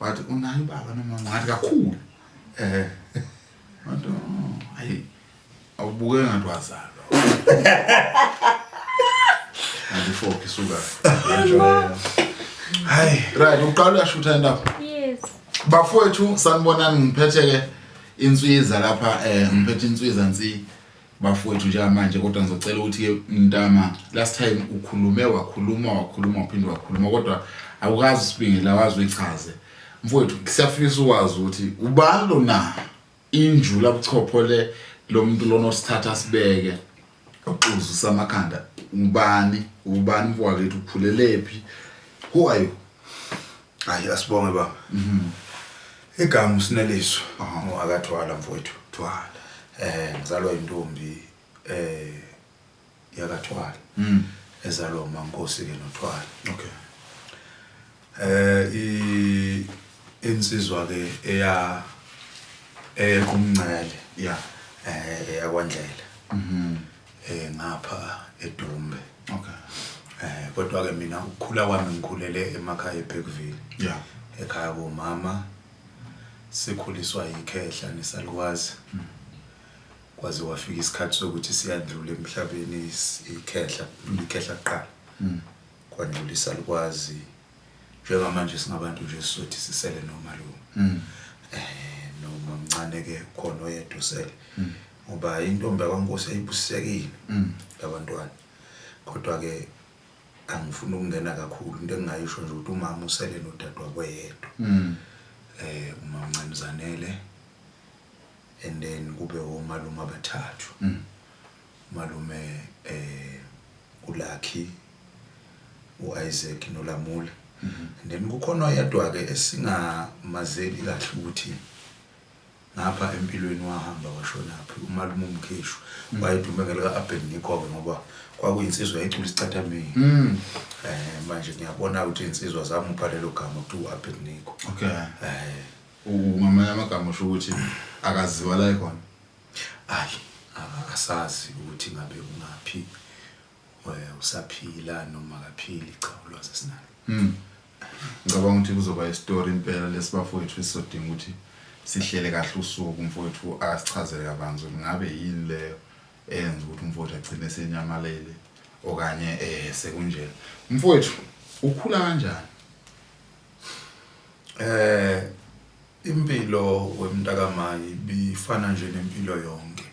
wathi unayo ubaba noma ngathi kakhulu eh wathi oh, ayi awubuke ngathi wazalwa andifoki suka hayi right uqala uyashutha indaba yes bafowethu sanibonani ngiphethe ke inswiza lapha eh ngiphethe inswiza nsi bafowethu njengamanje kodwa ngizocela ukuthi mntama last time ukhulume wakhuluma wakhuluma waphinde wakhuluma kodwa awukazi usibingela wazi uyichaze mfowethu siyafisa ukwazi ukuthi ubani lona injula buchopho le lo muntu lona osithatha sibeke oxuzu samakhanda ubani ubani mfowethu ukhulelephi who are you Hayi asibonge baba. Mhm. Igama usineliso ngoakathwala mfowethu. Thwala. Eh ngizalwa intombi eh yakathwala. Mhm. Ezalwa uMankosi ke nothwala. Okay. Eh i insizwa ke eya ekumncele. Yeah. Eh eyakwandlela. Mhm. Eh ngapha eDumbe. okay eh kodwa ke mina ukukhula kwami ngikhulele emakhaya eBergville yeah ekhaya komama sikhuliswa yikhehla nesalukazi mm. kwaze wafika isikhathi sokuthi siyadlula emhlabeni ikhehla ikhehla kuqala mm. kwandlula isalukwazi Njengamanje singabantu nje sizothi sisele nomalume. Mm. Eh nomamncane ke khona oyedwa usele. Mm. Ngoba intombi yakwaNkosi ayibusisekile. Mm. Labantwana. Kodwa ke angifuni ukungena kakhulu into engingayisho nje ukuthi umama usele nodadewabo yedwa. Mm. Eh umamncane uzanele and then kube omalume abathathu. Mm. Malume u Lucky, u Isaac no Lamula and then kukhona oyedwa ke esingamazeli kahle ukuthi ngapha empilweni wahamba washonaphi umalume umkheshu mm. wayedume ngelika Abednico ke ngoba kwakuyinsizwa ecula isicathamini mm. eh manje ngiyabona ukuthi insizwa zamupha lelo gama ukuthi uAbednico okay eh ungamanye amagama usho ukuthi akaziwa la ikhona Ay asazi ukuthi ngabe ungaphi usaphila noma akaphili cha ulwazi asinalo mm. ngicabanga ukuthi kuzoba istory impela lesibafowethu esizodinga ukuthi sihlele kahle usuku mfowethu asichazele kabanzi ukuthi ngabe yini leyo eyenza ukuthi umfowethu agcine senyamalele okanye eh sekunjena mfowethu ukhula kanjani eh Impilo wemntakamayi ibifana nje nempilo yonke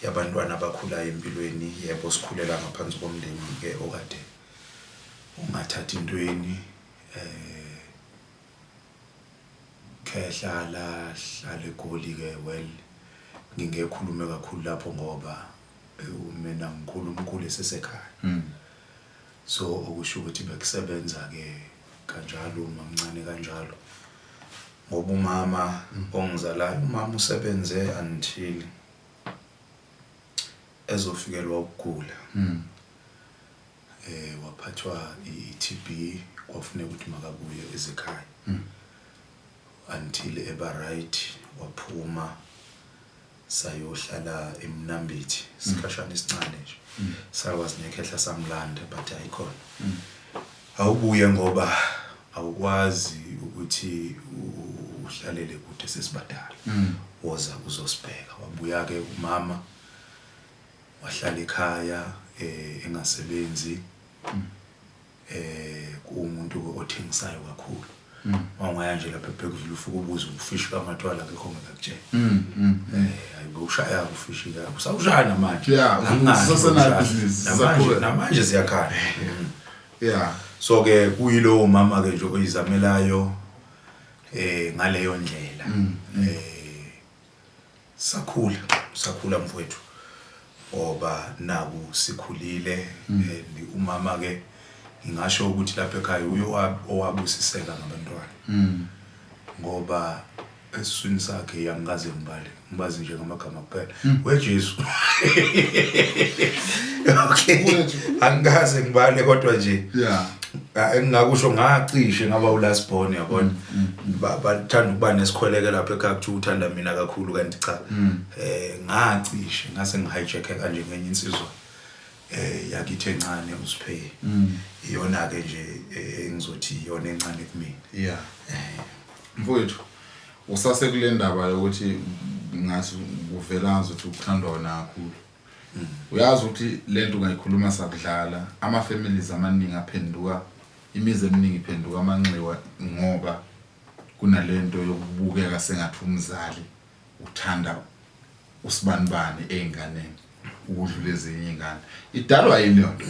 yabantwana abakhulayo empilweni. Yebo, sikhulela ngaphansi komndeni-ke okade ungathathi ntweni. Khehla lahlala eGoli-ke, well ngingeke ngikhulume kakhulu lapho ngoba ewu mina ngikhula umkhulu esesekhaya. So okusho ukuthi bekusebenza ke kanjalo mamncane kanjalo ngoba umama ongizalayo umama usebenze until ezofikelwa ukugula mm. eh waphathwa i-TB kwafuneka ukuthi makabuye ezikhaya mm. until eba right waphuma sayohlala eMnambithi isikhashana esincane nje sakwazi nekhehla samlanda but ayikhona awubuye ngoba awukwazi ukuthi uhlalele kude sesibadala woza uzosibheka wabuya ke umama wahlala ekhaya eh engasebenzi eh kumuntu othengisayo kakhulu mm. wangaya nje lapha ebhekuzula ufuka ubuza ufishi kamatwala akekho ngakutshela mm, mm, eh ayikushaya ufishi la usawushaya namanje namanje namanje siyakhala yeah so ke kuyilowo mama ke nje oyizamelayo eh ngaleyo ndlela eh Sakhula, sakhula mfowethu ngoba naku sikhulile mm. and umama ke ngingasho ukuthi lapha ekhaya uye owabusiseka ngabantwana mm. ngoba esiswini sakhe yangikaze ngibale ngibazi nje ngamagama kuphela mm. wejesu okay angikaze ngibale kodwa nje yeah engingakusho ngacishe ngaba ulast born yabona mm. bathanda ukuba nesikhweleke lapho ekhaya kuthiwa uthanda mina kakhulu kanti cha um ngacishe ngase ngi-hijack-e kanje ngenye insizwa eh yakithi encane uSphe mm. iyona ke nje eh, engizothi iyona encane kumina yeah eh. mfowethu usase kule ndaba yokuthi ngathi kuvela ngathi uthandwa wena kakhulu Uyazi ukuthi lento ungayikhuluma sakudlala ama families amaningi aphenduka imizi eminingi iphenduka amanxiwa ngoba kunalento yokubukeka sengathi umzali uthanda usibanibani ezinganeni ukudlula ezinye izingane idalwa yini yona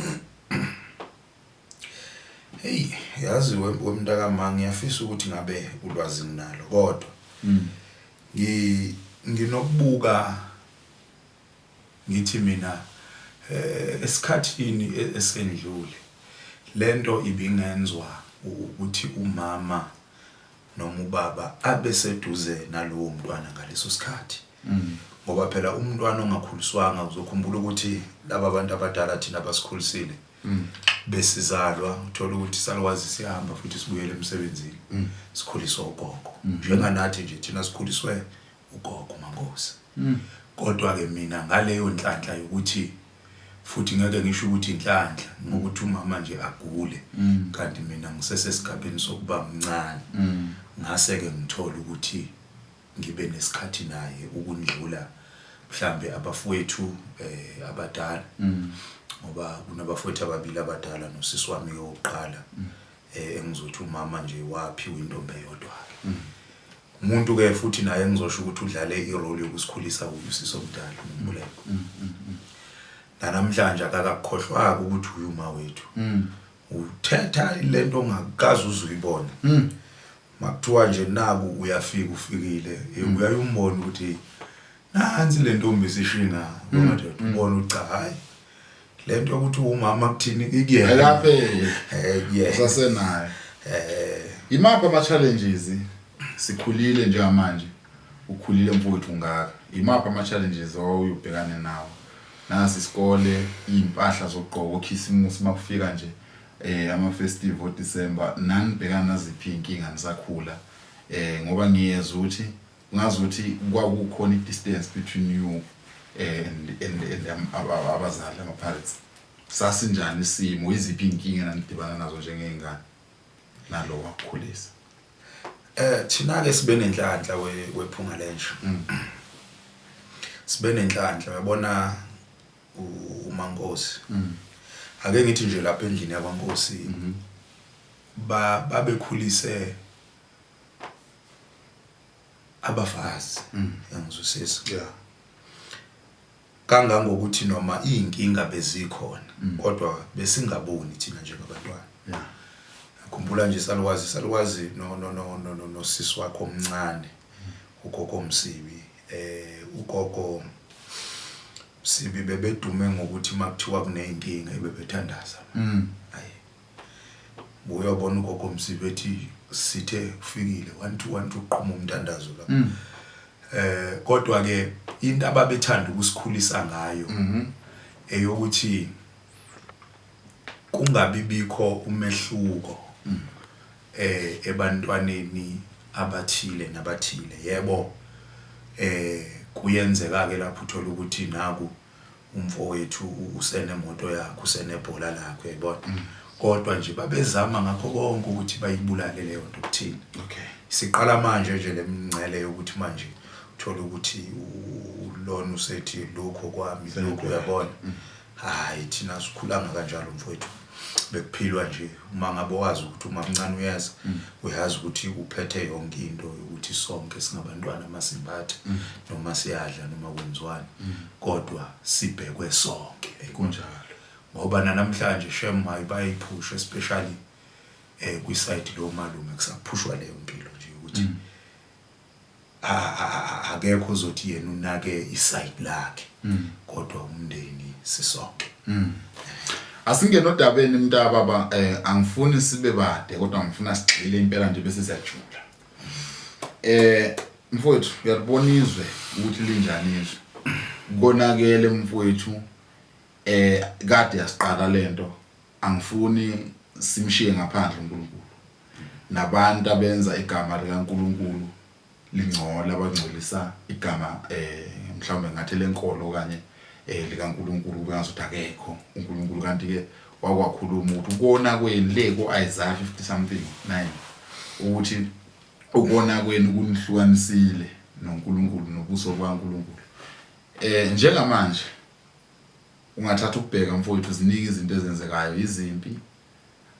Hey yazi wemntaka ma ngiyafisa ukuthi ngabe ulwazi nginalo kodwa hmm. ngi nginokubuka Ngithi mina esikhathini esendlule lento ibingenzwa ukuthi umama noma ubaba abe seduze nalowo mntwana ngaleso sikhathi ngoba phela umntwana ongakhuliswanga uzokhumbula ukuthi laba bantu abadala thina basikhulisile besizalwa uthola ukuthi salwazi sihamba futhi sibuyele emsebenzini sikhuliswa ugogo njenganathi nje thina sikhuliswe ugogo uMankosi kodwa ke mina ngaleyo nhlanhla yokuthi futhi ngeke ngisho ukuthi inhlanhla ngokuthi umama nje agule mm. kanti mina ngisesesigabeni sokuba mncane mm. ngase ke ngithola ukuthi ngibe nesikhathi naye ukundlula mhlambe abafowethu eh abadala mm. ngoba kunabafowethu ababili abadala nosisi wami ke wokuqala eh engizothi umama nje waphiwa intombi eyodwa Umuntu ke futhi naye engizosho ukuthi udlale irole yokusikhulisa uyu siso mdala umbuleko. Mm, mm, mm. Nanamhlanje akakakhohlwaka ukuthi uyu ma wethu. Mm. Uthetha lento ongakazi uzuyibona. Mm. Makuthiwa nje naku uyafika ufikile, mm. uyayombona ukuthi nansi lentombi sishinga ngoba mm, nje ubona ucha hayi. lento yokuthi umama kuthini ikuyena laphe eh yeah sasenayo eh imaphi ama challenges sikhulile njengamanje ukhulile mfowethu ngaka imaphi ama challenges owubhekane nawo nasi isikole impahla zokugqoka okhisimusi makufika nje eh ama festival December nanibhekana naziphi inkinga nisakhula eh ngoba ngiyezwa ukuthi Ngazuthi kwakukhona i distance between you and and and um, aba- aba- abazali ama parents. Sasinjani isimo, iziphi inkinga nanidibana nazo njengezingane nalo wakukhulisa. Eh thina ke sibe nenhlanhla we- wephunga lenja. Sibe nenhlanhla yabona u- uMankosi. Ake ngithi nje lapha endlini yakwaNkosi ba babekhulise abafazi mm. yangizwisisa yeah kangangokuthi noma izinkinga bezikhona mm. kodwa besingaboni thina njengabantwana yeah khumbula nje salwazi salwazi no no no no no nosisi wakho omncane mm. ugogo omsibi eh ugogo sibi bebedume ngokuthi makuthiwa kuneyinkinga ebebethandaza mm. buya ubona ugogo msibe ethi sithe ufikile 1212 uqhuma umntandazo la mm. eh kodwa ke into ababethanda ukusikhulisa ngayo mhm. eyokuthi kungabi bikho umehluko mm. eh ebantwaneni abathile nabathile yebo eh kuyenzeka ke lapho uthola ukuthi naku umfowethu usenemoto yakhe usenebhola lakhe uyayibona mm. kodwa nje babezama ngakho konke ukuthi bayibulale leyo nto kuthina okay siqala manje nje lemngcele yokuthi manje uthola ukuthi ulona usethi lokho kwami lokho uyabona mm. hayi thina sikhulanga kanjalo mfowethu bekuphilwa nje uma ngabe wazi ukuthi umamncane uyeza mm. uyazi ukuthi uphethe yonke into yokuthi sonke singabantwana masimbathe mm. noma siyadla noma kwenziwani mm. kodwa sibhekwe sonke kunjalo ngoba nanamhlanje shem hayi bayiphusha especially eh kwi-side lo malume kusaphushwa leyo mpilo nje ukuthi akekho ozothi yena unake isayidi lakhe mm. kodwa umndeni sisonke mm. asingena odabeni mntaka baba eh angifuni sibe bade kodwa ngifuna sigxile impela nje bese siyajula eh mfowethu uyalibona izwe ukuthi linjani izwe konakele mfowethu eh kade yasiqala lento Angifuni simshiye ngaphandle uNkulunkulu, nabantu abenza igama likaNkulunkulu lingcola, abangcolisa igama mhlawumbe ngingathi elenkolo okanye likaNkulunkulu kube ngazuthi akekho uNkulunkulu, kanti-ke wakwakhuluma ukuthi ukona kwenu le ku-Isaiah 50 something 9 ukuthi ukona kwenu kunihlukanisile noNkulunkulu nobuso bukaNkulunkulu. Eh njengamanje Ungathatha ukubheka mfowethu ziningi izinto ezenzekayo yizimpi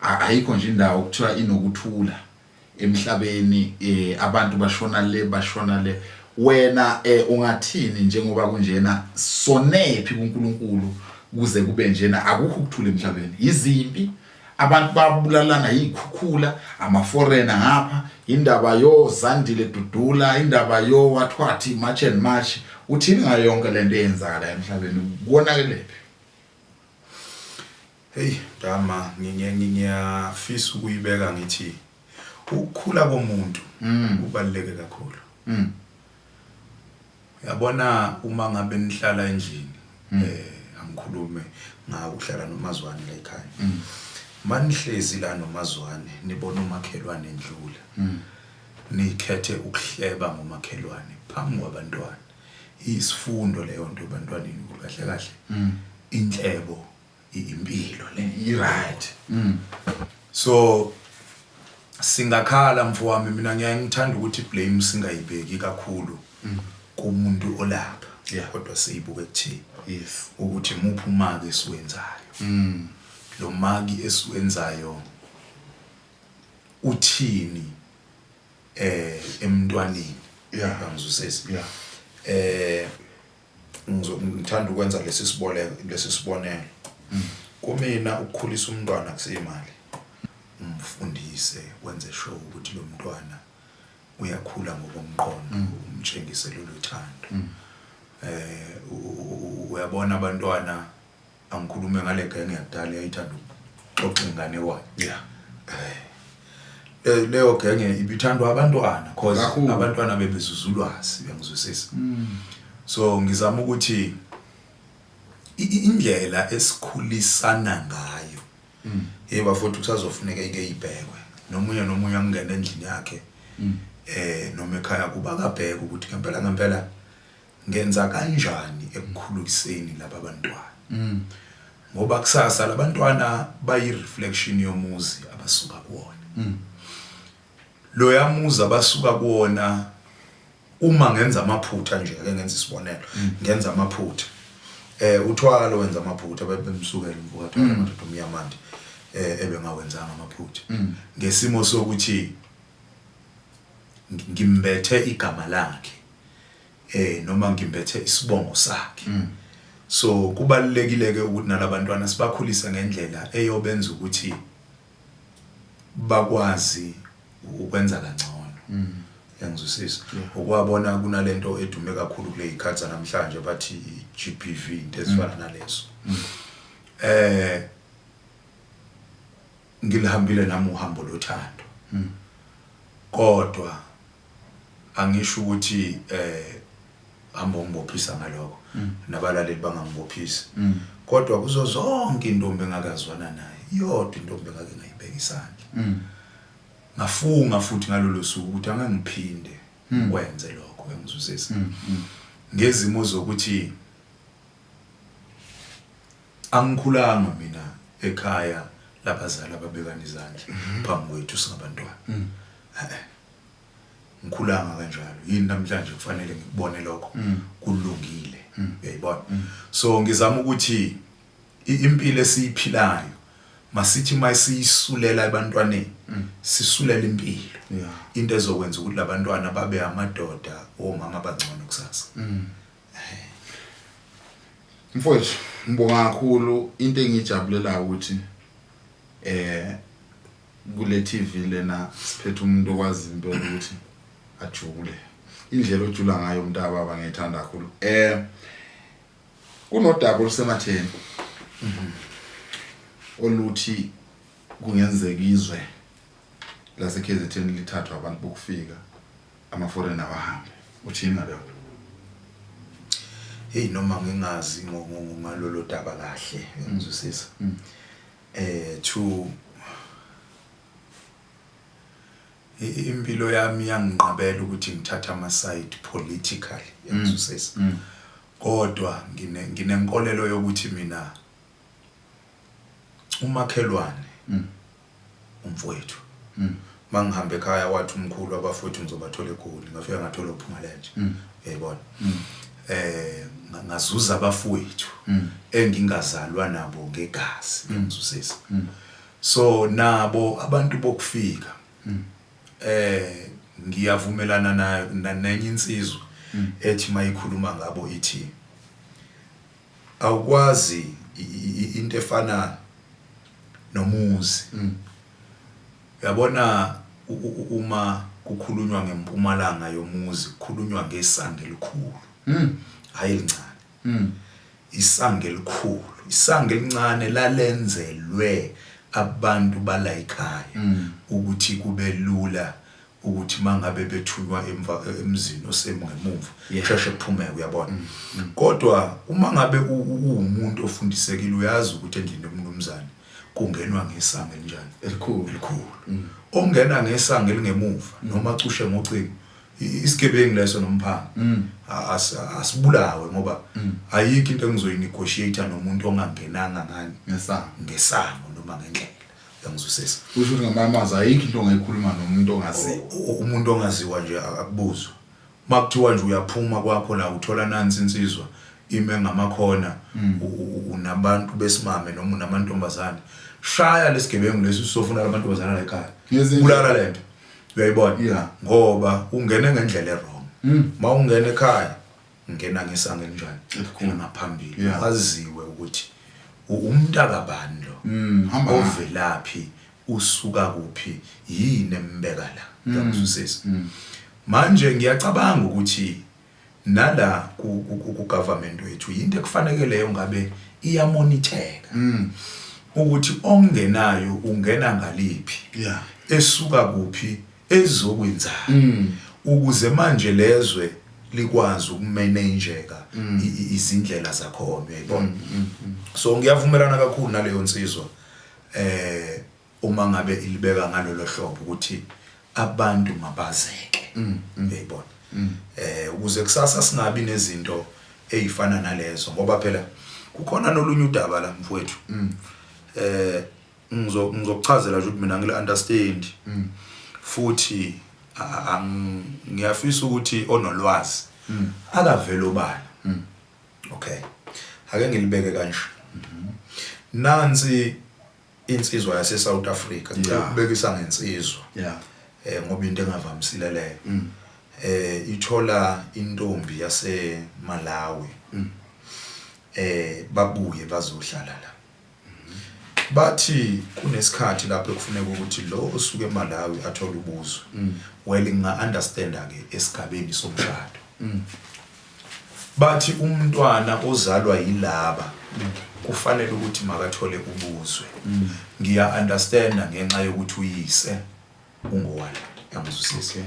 ayikho nje indawo okuthiwa inokuthula emhlabeni eh abantu bashona le bashona le wena eh ungathini njengoba kunjena sonephi kuNkulunkulu kuze kube njena akukho ukuthula emhlabeni yizimpi abantu babulalana yiy'khukhula amaforena ngapha indaba yozandile dudula indaba yowathwathi march and march uthini ngayo yonke le nto eyenzakala emhlabeni konakelephi heyi dama ngiyafisa ukuyibeka ngithi ukukhula komuntu mm. kubaluleke kakhulu mm. Yabona uma ngabe nihlala endlini mm. eh angikhulume ngakuhlala nomazwane la ekhaya. Mm. Manihlezi la nomazwane nibona umakhelwane endlula. Mm. Nikhethe ukuhleba ngomakhelwane phambi kwabantwana. Isifundo leyo nto ebantwaneni kahle kahle. Inhlebo impilo le i-right mm. so singakhala mfowami mina ngiyaye ngithanda ukuthi blame singayibheki kakhulu mm. kumuntu olapha yeah. kodwa siyibuke kuthini yes. ukuthi muphi umaki esiwenzayo mm. lo maki esiwenzayo uthini eh emntwaneni yeah. bangizwisisa yeah. eh ngithanda ukwenza lesi siboleko lesi sibonelo kumina ukukhulisa umntwana kuseyimali umfundise wenze sure ukuthi lo mntwana uyakhula ngokomqondo mm. umtshengise lolu thando eh uyabona abantwana angikhulume ngale genge yakudala eyayithanda ukuxoxa inganekwane yeah Eh, leyo genge ibithandwa abantwana because Kakhulu. abantwana bebezuza ulwazi bengizwisisa Mm. so ngizama ukuthi i- i- indlela esikhulisana ngayo Mm. hey bafowethu kusazofuneka ike ibhekwe nomunye nomunye angene endlini yakhe Mm. eh noma ekhaya kuba kabheke ukuthi ngempela ngempela Ngenza kanjani ekukhuluiseni laba bantwana ngoba kusasa la bantwana bayi-reflection yomuzi abasuka kuwona. Loya muzi abasuka kuwona uma ngenza amaphutha nje, ake ngenze isibonelo, ngenza amaphutha eh uThwala wenza amaphutha bebemsukela umfokaThwala amadoda omnyamande eh ebengawenzanga amaphutha ngesimo sokuthi ngimbethe igama lakhe. eh noma ngimbethe isibongo sakhe mm. so kubalulekile ke ukuthi nalabantwana sibakhulise ngendlela eyobenza ukuthi bakwazi ukwenza kangcono mm. yangizwisisa ukwabona kunalento edume kakhulu kule ikhathi namhlanje bathi GBV into ezifana mm. nalezo mm. eh Ngilihambile nami uhambo lothando. Hmm. Kodwa angisho ukuthi eh hamba ungibophisa ngaloko hmm. nabalaleli bangangibophisi. Hmm. Kodwa kuzo zonke intombi engakazwana naye yodwa intombi engake ngayibeka isandla. Hmm. Ngafunga futhi ngalolu suku ukuthi angangiphinde hmm. kwenze lokho engizuzisa. Hmm. hmm. Ngezimo zokuthi Angikhulanga mina ekhaya labazali ababekana izandla phambi kwethu singabantwana. He-e. Ngikhulanga kanjalo. Yini namhlanje kufanele ngikubone lokho kulungile. Uyayibona? So ngizama ukuthi i- impilo esiyiphilayo masithi masiyisulela ebantwaneni sisulela impilo. Yeah. Into ezokwenza ukuthi labantwana babe amadoda omama abangcono kusasa. Mfowethu ngibonga kakhulu into engijabulelayo ukuthi eh kule TV lena siphethe umuntu okwazi impela ukuthi ajule indlela ojula ngayo umntaka baba ngiyithanda kakhulu eh kunodaba olusematheni oluthi kungenzeka izwe laseKZN lithathwa abantu bokufika Ama foreign awahambe. Uthini ngalokho? Hey noma ngingazi ngalolo daba kahle ngizwisisa. Mm. Mm. Eh to impilo yami yanginqabela ukuthi ngithathe ama side politically mm. ngizwisisa. Kodwa ngine nginenkolelo yokuthi mina umakhelwane umfowethu mm. mangihamba ekhaya wathi umkhulu abafowethu ngizobathola egoli ngafika ngathola uphungalenje mm. yayibona mm. eh ngazuza abafowethu mm. engingazalwa nabo ngegazi mm. ngizusisa mm. so nabo abantu bokufika mm. eh ngiyavumelana nayo nenye insizwa mm. ethi mayikhuluma ngabo ithi Awukwazi into efana nomuzi mm. Yabona uma kukhulunywa ngempumalanga yomuzi kukhulunywa ngesange elikhulu mm. hayi elincane mm. isange elikhulu isange elincane lalenzelwe abantu balayikhaya mm. ukuthi kube lula ukuthi mangabe bethunywa emva emzini osemu ngemumva kusheshe kuphumeke uyabona mm, mm. kodwa uma ngabe uwumuntu ofundisekile uyazi ukuthi endlini yomnumzane kungenwa ngesango elinjani elikhulu elikhulu mm. ongena ngesango elingemuva noma cushe ngocingo isigebengu leso nomphanga asibulawe ngoba ayikho into engizoyinegotiate nomuntu ongangenanga ngani ngesango ngesango noma ngendlela yangizwisisa usho ukuthi ngamanye amazwi ayikho into ongayikhuluma nomuntu ongaziwa umuntu ongaziwa nje akubuzwa uma kuthiwa nje uyaphuma kwakho la uthola nansi insizwa ime ngamakhona hmm. unabantu besimame noma unamantombazane shaya lesigebengu lesi usofuna lamantombazane la ekhaya bulala lento uyayibona ngoba ungene ngendlela erong hmm. ma ungena ekhaya Ngena ngesango elinjani? Ngena ngaphambili. Yeah. Kwaziwe ukuthi u- umntaka bani lo. Mm, hamba hamba. Ovelaphi, usuka kuphi, yini embeka la. Ngiyakuzwisisa. Manje ngiyacabanga ukuthi nala ku- ku- ku- ku-government wethu yinto ekufanekeleyo ngabe iyamonitheka Mm, ukuthi ongenayo ungena ngaliphi yeah. esuka kuphi ezokwenzani ukuze manje lezwe likwazi ukumanageka izindlela zakhona uyayibona so ngiyavumelana kakhulu naleyo nsizwa eh uma ngabe ilibeka ngalolo hlobo ukuthi abantu mabazeke uyayibona eh ukuze kusasa singabi nezinto ezifana nalezo ngoba phela kukhona nolunye udaba la mfowethu eh ngizo ngizokuchazela nje ukuthi mina ngile understand mm. futhi ngiyafisa ukuthi onolwazi mm. akavele obani mm. okay ake ngilibeke kanje mm-hmm. nansi insizwa yase South Africa ngicela ukubekisa ngensizwa yeah eh ngoba into engavamisile leyo mm. eh ithola intombi yase Malawi mm. eh babuye bazohlala la Bathi kunesikhathi lapho ekufuneka ukuthi lo osuke eMalawi athole ubuzo. Mm. Well nginga understanda ke esigabeni somshado. Mm. Bathi umntwana ozalwa yilaba mm. kufanele ukuthi makathole ubuzwe. Ngiya understanda ngenxa yokuthi uyise ungowala. Yangizwisisa.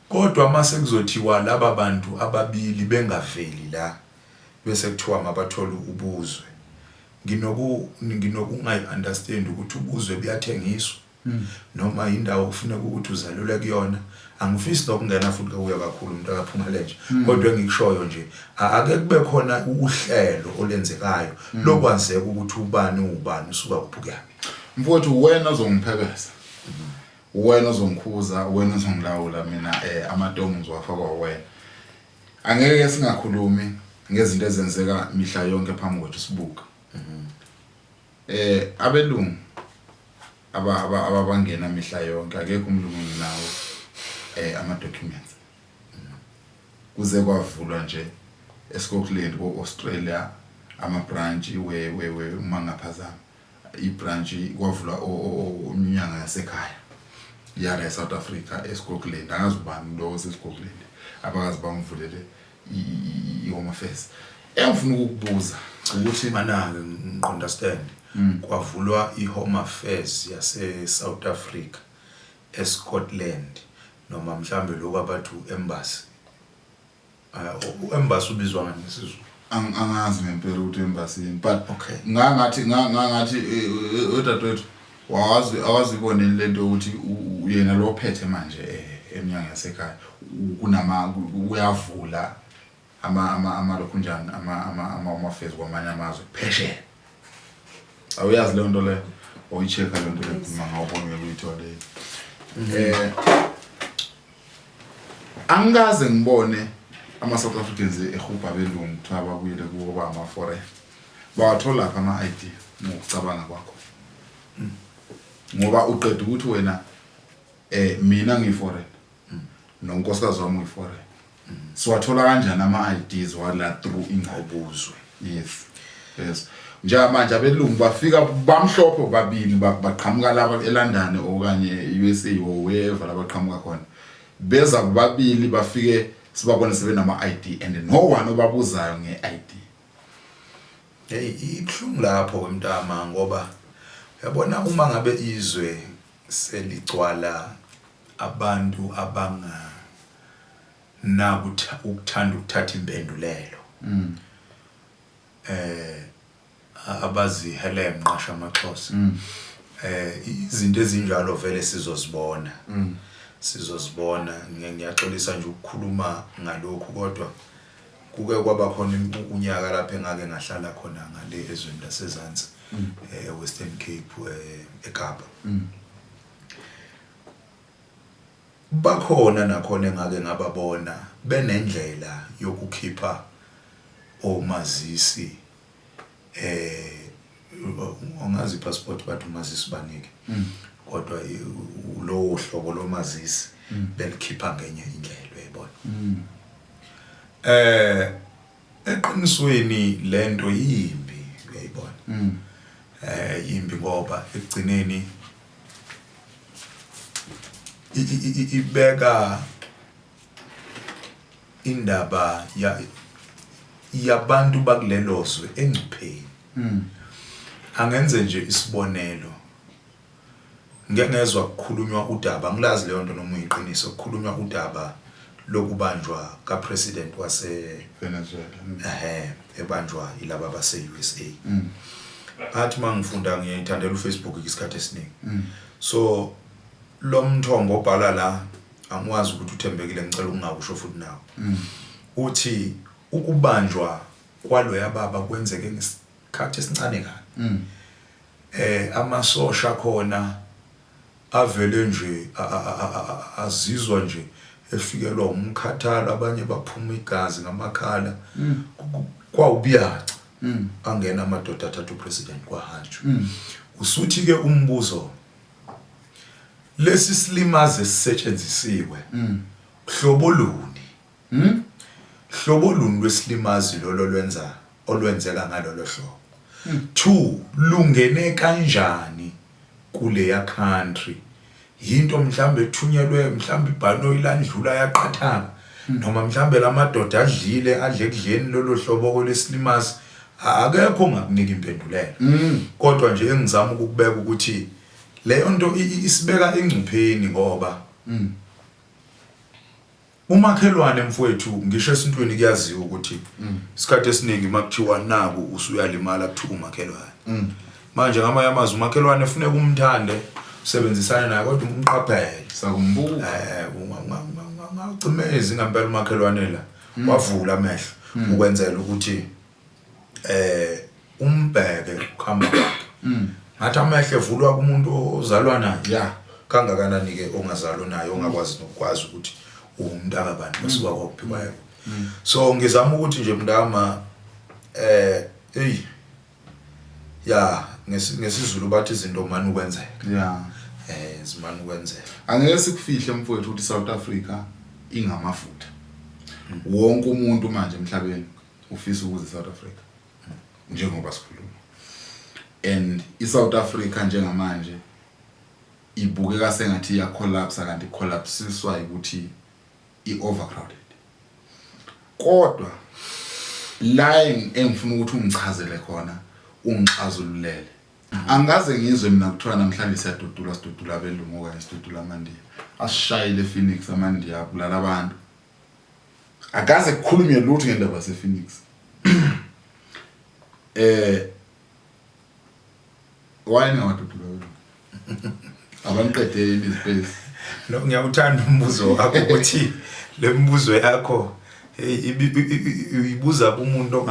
Kodwa mase kuzothiwa laba bantu ababili bengaveli la bese kuthiwa mabathole ubuzwe nginoku nginokungayi understand ukuthi ubuzwe buyathengiswa mm. noma indawo kufuneka ukuthi uzalule kuyona angifisi nokungena futhi kuya kakhulu umuntu akaphuma lenje mm. kodwa engikushoyo nje ake kube khona uhlelo olenzekayo mm. lokwazeka ukuthi ubani ubani usuka kuphi kuyaphi mfowethu wena ozongiphekeza wena ozongikhuza wena ozongilawula mina eh amatomu ngizowafa kwawena Angeke singakhulumi ngezinto ezenzeka mihla yonke phambi kwethu sibuka. Eh abelungu aba aba- ababangena mihla yonke akekho umlungu nginawo eh ama documents. Kuze kwavulwa nje eScotland ko-Australia ama branch we we we uma ngaphazama. ibrantshi kwavula inyanga yasekhaya yala eSouth Africa eScotland angazi ubani lo oseScotland abakazi bangivulele i-home affairs engifuna ukukubuza ukuthi manake ngiqondastand mm. kwavulwa i-home affairs yaseSouth Africa eScotland noma mhlambe lokho abathu embassy U-embassy ubizwa ngani ngesiZulu? angazi ngempela ukuthi embassy yini but Okay. ngangathi nga- ngangathi eh, eh, udadewethu wawazi awaziboneli lento yokuthi u- u- yena lo ophethe manje eh, emnyango yasekhaya u- kunama ku- ku- uyavula ama ama amalokhunjani ama ama ama amafezi kwamanye amazwe phesheya awuyazi leyo nto leyo oyicheka leyo nto leyo uma ngawubona ngeke uyithole eh Angikaze ngibone ama South Africans ehubha belungu kuthiwa babuyele kuwo ba ama foreign. Bawathola lapha ama ID ngokucabanga kwakho. Hmm. Ngoba uqeda ukuthi wena eh mina ngi foreign. Hmm. Nonkosikazi wami uyi foreign. Hmm. Siwathola kanjani ama IDs wala through ingqobuzwe? Yes. Yes. Njengamanje abelungu bafika bamhlophe babili ba- baqhamuka laba eLondon okanye e-USA or wherever labaqhamuka khona. Beza kubabili bafike sibabone sebenama ID and no one obabuzayo nge-ID. Hey ibuhlungu lapho wemntama ngoba yabona uma ngabe izwe seligcwala abantu abanga Naku ukuthanda ukuthatha impendulelo. Mm. Eh abazihelenqa shamaxhosa. Mm. Eh izinto ezinjalo vele sizozibona. Mm. Sizozibona ngiyaxolisa nje ukukhuluma ngalokhu kodwa kuke kwaba khona unyaka lapho engake ngahlala khona ngale ezweni lasezansi mm. eh Western Cape eh, eKapa. Mm. Bakhona nakhona engake ngababona benendlela yokukhipha omazisi angazi ipassport bathi umazisi banike kodwa lowo hlobo lomazisi belikhipha ngenye indlela uyayibona. Eh Eqinisweni lento yimbi uyayibona. Mm. Eh yimbi ngoba ekugcineni ibeka indaba ya yabantu bakulelozwe engcupheni. Mm. Angenze nje isibonelo Ngike ngezwa kukhulunywa udaba, angilazi leyonto noma uyiqiniso, kukhulunywa udaba lokubanjwa ka President wase Venezuela ehhe ebanjwa ilaba base usa. Ngathi mangifunda ngiyayithandela uFacebook ke isikhathi esiningi. So lomthombo obhala la angiwazi ukuthi uthembekile ngicela ukungakusho futhi nawe. Uthi ukubanjwa kwaloya baba kwenzeke Isikhathi esincane kabi. Eh amasosha akhona avele nje azizwa nje efikelwa umkhathalo abanye baphuma igazi ngamakhala kwawubiyaca angena amadoda athatha upresident kwahanjwa. Usuthi ke umbuzo lesi silimaze sisetshenzisiwe hlobo luni? Hm? Hlobo luni lwesilimazi lolo lwenza olwenzeka ngalolo hlobo? Two, lungene kanjani kuleya country? Yinto mhlawumbe ethunyelwe mhlawumbe ibhanoyi landlula yaqathanga noma mhlawumbe lamadoda adlile adle kudleni lolo hlobo kolesilimazi akekho ongakunika impendulela kodwa nje engizama ukukubeka ukuthi leyo nto isibeka engcupheni ngoba Umakhelwane mfwethu ngisho esintwini kuyaziwa ukuthi mm. isikhathi esiningi makuthiwa naku usuyalimala kuthiwa umakhelwane mm. manje ngamanye amazwi umakhelwane funeka umthande usebenzisane naye kodwa umqaphele sakumbuka eh ungacimezi ngampela umakhelwane la mm. wavula amehlo ukwenzela ukuthi eh umbheke ukuhamba kwakhe mm. ngathi amehlo evulwa kumuntu ozalwa naye yeah kangakanani ke ongazalwa naye ongakwazi nokwazi ukuthi umntaka bantu mm. basuka kwakuphiwa yebo mm. so ngizama ukuthi nje mntama eh hey ya ngesizulu bathi izinto mani ukwenzeka yeah eh zimani ukwenzeka angeke sikufihle mfowethu ukuthi South Africa ingamafutha mm. wonke umuntu manje emhlabeni ufisa ukuze South Africa njengoba sikhuluma and iSouth Africa njengamanje ibukeka sengathi iya collapse kanti collapsiswa ukuthi iovercrowded kodwa la engifuna ukuthi ungichazele khona ungixazululele angikaze ngizwe mina kuthiwa namhlanje siyadudula sidudula abelungu okanye sidudula amandiya asishayile phoenix amandiya abulala abantu akaze kukhulunywe lutho ngendaba yase Phoenix eh why ngawadudu loyo abaniqedele izipesi no ngiyawuthanda umbuzo wakho ukuthi lemibuzo yakho hey ibuza kumuntu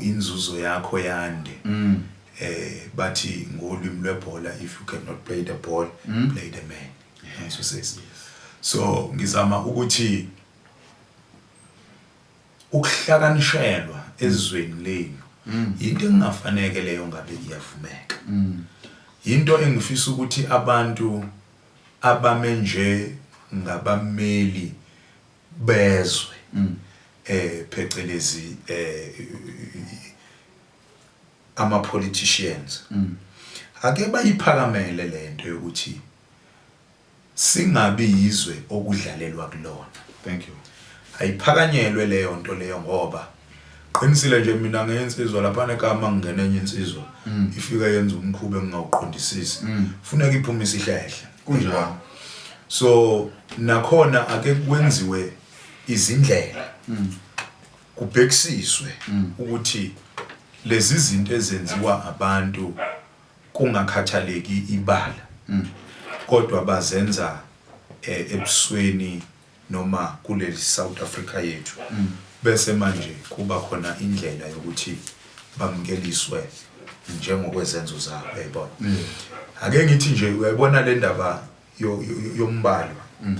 inzuzo yakho yande mm. eh bathi ngolwimi lwebhola if you cannot play the ball mm. play the man yeah. so says so ngizama ukuthi ukuhlakanishelwa ezweni lenu mm. into engingafaneke leyo ngabe iyavumeka mm. into engifisa ukuthi abantu abame nje ngabameli bezwe mm. eh phecelezi eh ama politicians mm. ake bayiphakamele lento yokuthi singabi yizwe okudlalelwa kulona thank you ayiphakanyelwe leyo nto leyo ngoba Qinisile nje mina ngeyensizwa laphana ekhaya uma ngingena enye insizwa mm. ifika yenza umkhuba engingawuqondisisi mm. funeka iphume isihlehle kunjalo so nakhona ake kwenziwe izindlela mm. kubhekisiswe ukuthi lezi zinto ezenziwa abantu kungakhathaleki ibala kodwa bazenza eh, ebusweni noma kuleli South Africa yethu bese manje kuba khona indlela yokuthi bamukeliswe njengokwezenzo zabo uyayibona mm. ake ngithi nje uyayibona le ndaba yombalo mm.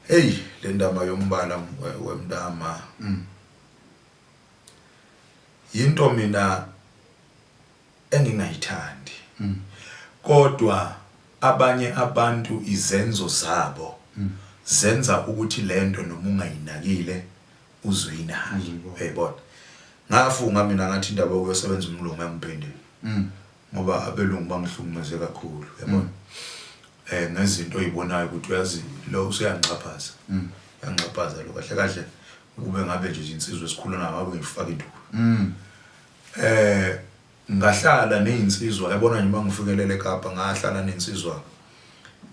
hey le ndaba yombala wemntama mm. yinto mina engingayithandi kodwa abanye abantu izenzo zabo zenza ukuthi lento noma ungayinakile uze uyinake uyayibona ngafunga mina ngathi indaba yokuyosebenza umlungu engiphindile ngoba abelungu bangihlukumeze kakhulu uyabona eh ngezinto oyibonayo ukuthi uyazi lo useyanxaphaza yanxaphaza lo kahle kahle ukube ngabe nje insizwa esikhulana ngabe ngifaka induku Eh ngahlala nezinsizwa yabona nje mangifikelele eKapa ngahlala nensizwa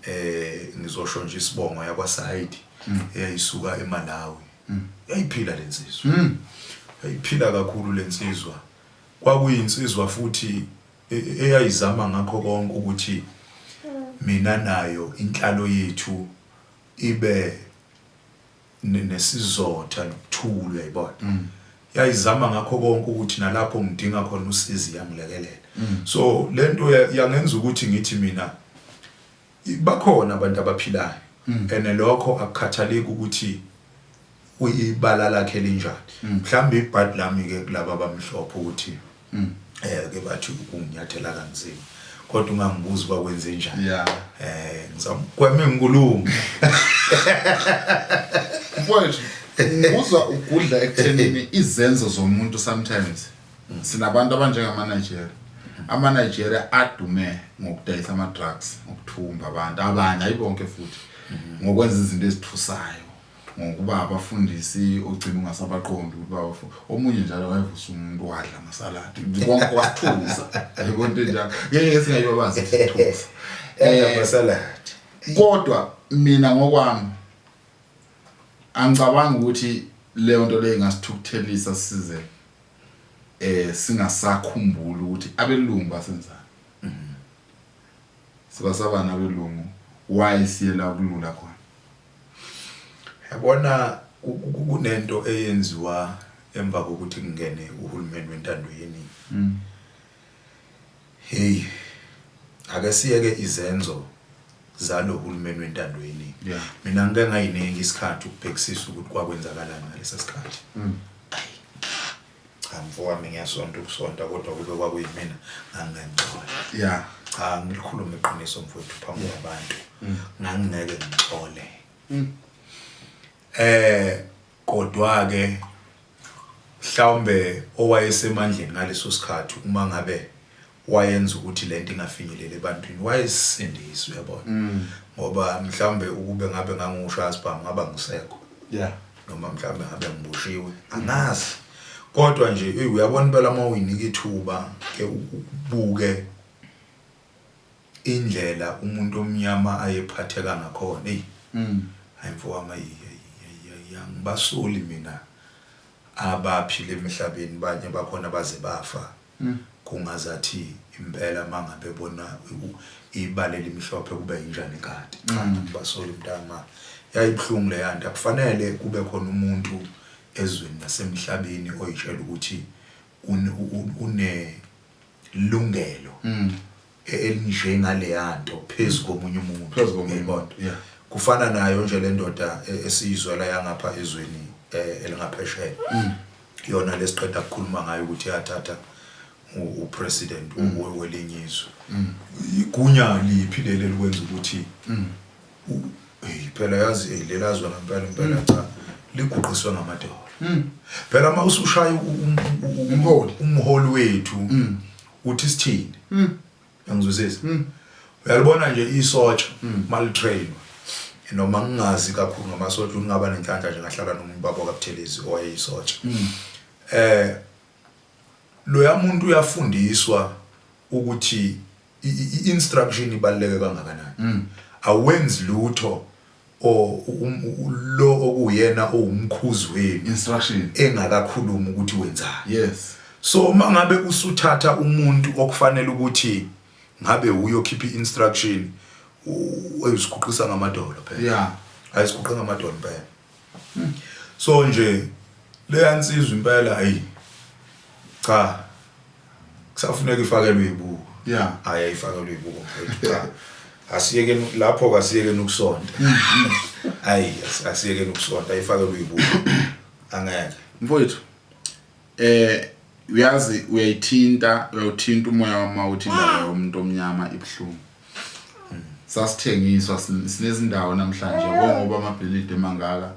eh ngizosho nje isibongo yakwa side hmm. eyayisuka eMalawi hmm. yayiphila lensizwa hmm. yayiphila kakhulu lensizwa kwakuyinsizwa futhi e, e, eyayizama ngakho konke ukuthi mina nayo inhlalo yethu ibe nesizotha nokuthula yibona mm. yayizama ngakho konke ukuthi nalapho ngidinga khona usizi yangilekelela mm. so lento yangenza ukuthi ngithi mina bakhona abantu abaphilayo mm. ene lokho akukhathaleki ukuthi uyibala lakhe linjani mhlawumbe ibhadi lami ke kulabo abamhlophe ukuthi Mm. Eh ke bathi ukunginyathela kanzima. Kodwa ungangibuza uba kwenze njani. Yeah. Eh ngizamgweme ngikulume. Mfowethu, ngizwa ugudla ekuthenini izenzo zomuntu sometimes sinabantu abanjengama Nigeria ama Nigeria adume ngokudayisa ama drugs ngokuthumba abantu abanye ayibonke futhi ngokwenza izinto ezithusayo Ngokuba abafundisi ogcina ungasabaqondi ukuthi bawafo. Omunye njalo wayevusa umuntu wadla amasaladi. Konke wathusa. Yebo into enjalo. Ngeke singayobazi isithusa. Eh amasaladi. Kodwa mina ngokwami angicabanga ukuthi leyo nto leyo ingasithukuthelisa size eh singasakhumbula ukuthi abelungu basenzani. Mhm. Sibasabana abelungu why siyela kulula khona. Yabona kunento eyenziwa emva kokuthi kungene uhulumeni wentando yeningi. Mm. Hey ake siyeke izenzo zalo hulumeni wentando yeningi. Yeah. Mina ngike ngayiningi isikhathi ukubhekisisa ukuthi kwakwenzakalani ngalesa sikhathi. Mm. Cha mfowami ngiyasonta ukusonta kodwa kube kwakuyimina ngangingengcono. Yeah. Cha ngilikhulume iqiniso mfowethu phambi mm. kwabantu. Mm. Ngangingeke ngixole. Mm. Eh kodwa ke mhlawumbe owayesemandleni ngaleso sikhathi uma ngabe wayenza ukuthi lento ingafinyeleli ebantwini wayesindiswa uyabona mm. ngoba mhlambe ukube ngabe ngangusho asibhamu ngaba ngisekho yeah noma mhlambe ngabe ngibushiwe angazi kodwa nje hey uyabona impela uma uyinika ithuba ke ubuke indlela umuntu omnyama ayephatheka ngakhona hey mm. hayi mfowami ayiyangibasoli mina abaphile emhlabeni banye bakhona baze bafa kungazathi impela mangabe bona ibala elimhlophe kube yinjani kade cha ngibasoli mntama yayibuhlungu leyanto akufanele kube khona umuntu ezweni nasemhlabeni oyitshela ukuthi une lungelo elinje ngaleyanto phezu komunye umuntu Phezu komunye uyayibona umuntu, yeah. kufana nayo nje le ndoda e- esiyizwela yangapha ezweni eh, elingaphesheya yona lesiqeda kukhuluma ngayo ukuthi yathatha u- upresident u- welinye izwe igunya liphi leli elikwenza ukuthi u- eyi, phela yazi eyi, lela zwe ngempela impela cha liguqiswe ngamadola phela uma usushaya u- u- u- u- Umholi. umholi wethu uthi sithini mm. yangizwisisa mm. uyalibona nje isotsha mm. malitrainwa noma ngingazi kakhulu ngamasotsha ngingaba nenhlanhla nje ngahlala nomuntu babo kabuthelezi owayeyisotsha mm. eh loya muntu uyafundiswa ukuthi i-instruction ibaluleke kangakanani mm. awenzi lutho or lo okuyena owumkhuzi wenu instruction engakakhulumi ukuthi wenzani yes so uma ngabe usuthatha umuntu okufanele ukuthi ngabe uyokhipha i-instruction uyiziguqisa ngamadolo phela yeah ayiziguqa ngamadolo phela hmm. so nje leya nsizwa impela ayi cha kusafuneka ifakelwe ibuko yeah hayi ayifakelwe ibuko mfethu cha asiyeke lapho kasiyeke ukusonta hayi mm. asiyeke ukusonta ayifakelwe ibuko angeke mfowethu eh uyazi uyayithinta uyawuthinta umoya wama uthi indaba yomuntu omnyama ibuhlungu sasithengiswa sinezindawo namhlanje ngoba amabhilidi emangaka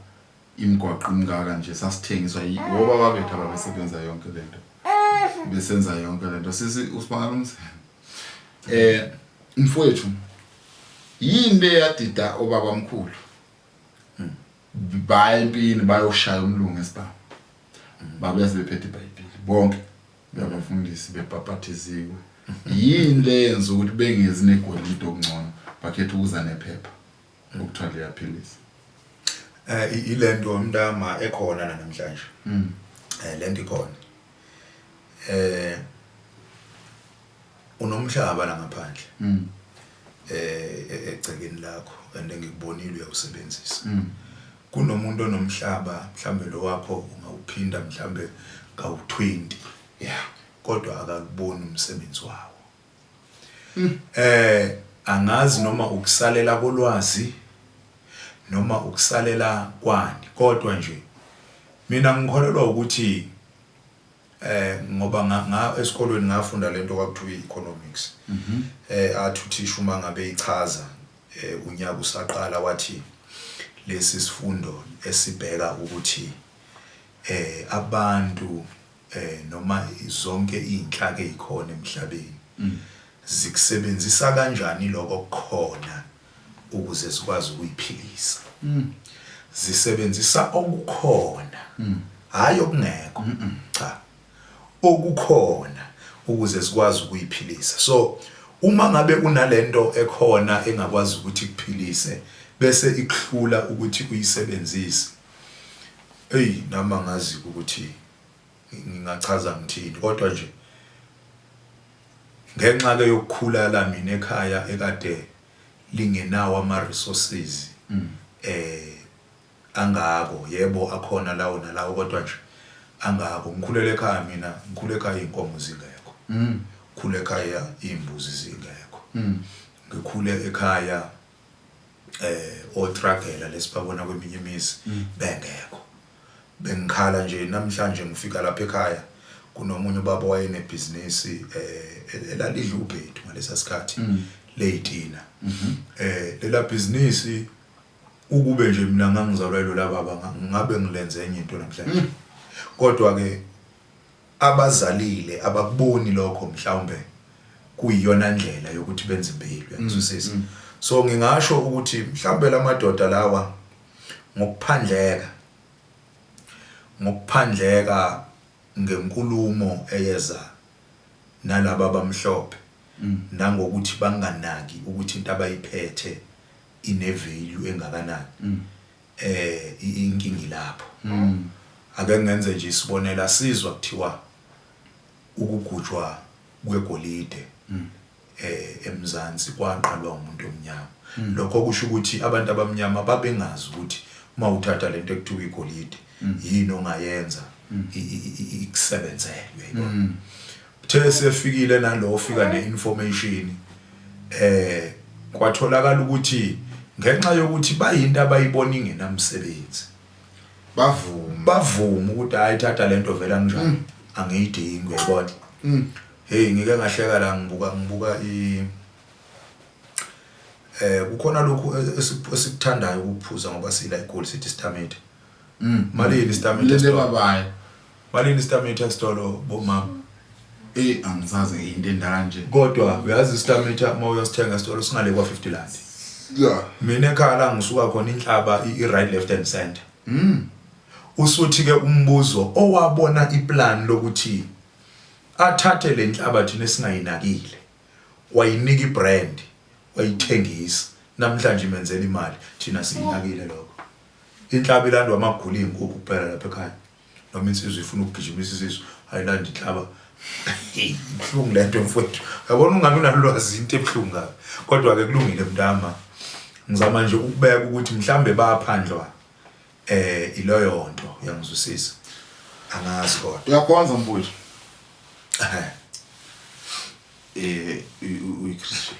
imgwaqo imngaka nje sasithengiswa yiwoba babethu ababesebenza yonke lento besenza yonke lento sisi usibangala umzimba eh mfowethu yini le yadida obaba mkhulu baya empini bayoshaya umlungu esibhamu babuya sebephethe ibhayibheli bonke bebafundisi bebhapathiziwe yini le yenza ukuthi bengezi negolide okungcono bakhetha ukuza nephepha Ngokuthiwa liyaphilisa. Eh ilento umntama ekhona namhlanje. Mm. Eh lento ikhona. Eh unomhlaba la ngaphandle. Mm. Eh, eh egcekeni lakho and engikubonile uyawusebenzisa. Mm. Kunomuntu onomhlaba mhlambe lo wakho ungawuphinda mhlambe kawu20. Yeah. Kodwa akakuboni umsebenzi wawo. Eh angazi noma ukusalela kolwazi noma ukusalela kwani kodwa nje mina ngikholelwa ukuthi eh ngoba nga esikolweni ngafunda lento kwakuthiwa economics mhm. eh athi uthisha uma ngabe ichaza eh, unyaka usaqala wathi lesi sifundo esibheka ukuthi eh abantu eh noma zonke izinhlaka ezikhona emhlabeni mm. zikusebenzisa kanjani lokho kukhona ukuze zikwazi ukuyiphilisa mm. zisebenzisa okukhona mm. hayi okungekho cha okukhona ukuze zikwazi ukuyiphilisa so uma ngabe unalento ekhona engakwazi ukuthi kuphilise bese ikuhlula ukuthi uyisebenzise Eyi nami angazi-ke ukuthi ngingachaza ngithini kodwa nje ngenxa-ke yokukhulala mina ekhaya ekade lingenawo ama-resources um angako yebo akhona lawo nalawo kodwa nje angako ngikhulele ekhaya mina ngikhule ekhaya iy'nkomo zingekho ngikhule ekhaya iy'mbuzi zingekho ngikhule ekhaya eh otragela lesibabona kweminye imizi bengekho bengikhala nje namhlanje ngifika lapha ekhaya kunomunye ubaba wayenebhizinisi eh elalidla ubhedu ngalesa sikhathi leyitina eh lela bhizinisi ukube nje mina ngangizalwa yilolababa ngabe ngilenze enye into namhlanje kodwa ke Abazalile abakuboni lokho mhlawumbe kuyiyona ndlela yokuthi benze impilo yangizwisisa so ngingasho ukuthi mhlawumbe lamadoda lawa ngokuphandleka ngokuphandleka ngenkulumo eyeza nalaba abamhlophe nangokuthi banganaki ukuthi into abayiphethe ine value engakanani eh inkinga ilapho ake ngenze nje isibonelo asizwa kuthiwa ukugujwa kwegolide eh eMzansi kwaqalwa umuntu omnyama mm. lokho kusho ukuthi abantu abamnyama babengazi ukuthi uma uthatha lento ekuthiwa igolide mm. yini ongayenza mm. ikusebenzelwe yibona Uthe sefikile nalo ofika ne-information eh kwatholakala ukuthi ngenxa yokuthi bayinto abayibona ingenamsebenzi bavuma bavuma ukuthi hayi thatha lento vela njani mm. angiyidingi uyabona mm. hey ngike ngahleka la ngibuka ngibuka i eh kukhona lokhu esikuthandayo ukuphuza ngoba sila igoli sithi stamate Mm. Malini istameti Lele esitolo? babaye. Malini istameti esitolo bomama? Eh angisaze into endala nje. Kodwa uyazi istameti uma uyosithenga esitolo singale kwa 50 rand. Yeah. Mina ekhaya la ngisuka khona inhlaba i i right left and center. Mm. Usuthi ke umbuzo owabona iplan lokuthi athathe lenhlaba thina singayinakile. Wayinika ibrand, wayithengisa. Namhlanje imenzela imali, thina siyinakile lokho. Inhlaba ilandwa amagula iyinkukhu kuphela lapha ekhaya noma insizwa ifuna ukugijimisa isisu ayilandi inhlaba ibuhlungu lento mfowethu yabona ungabe unalwazi into ebuhlungu kabi kodwa ke kulungile mntama ngizama nje ukubeka ukuthi mhlambe baphandlwa eh iloyo nto yangizwisisa angazi kodwa uyakhonza mfowethu eh uyi Christian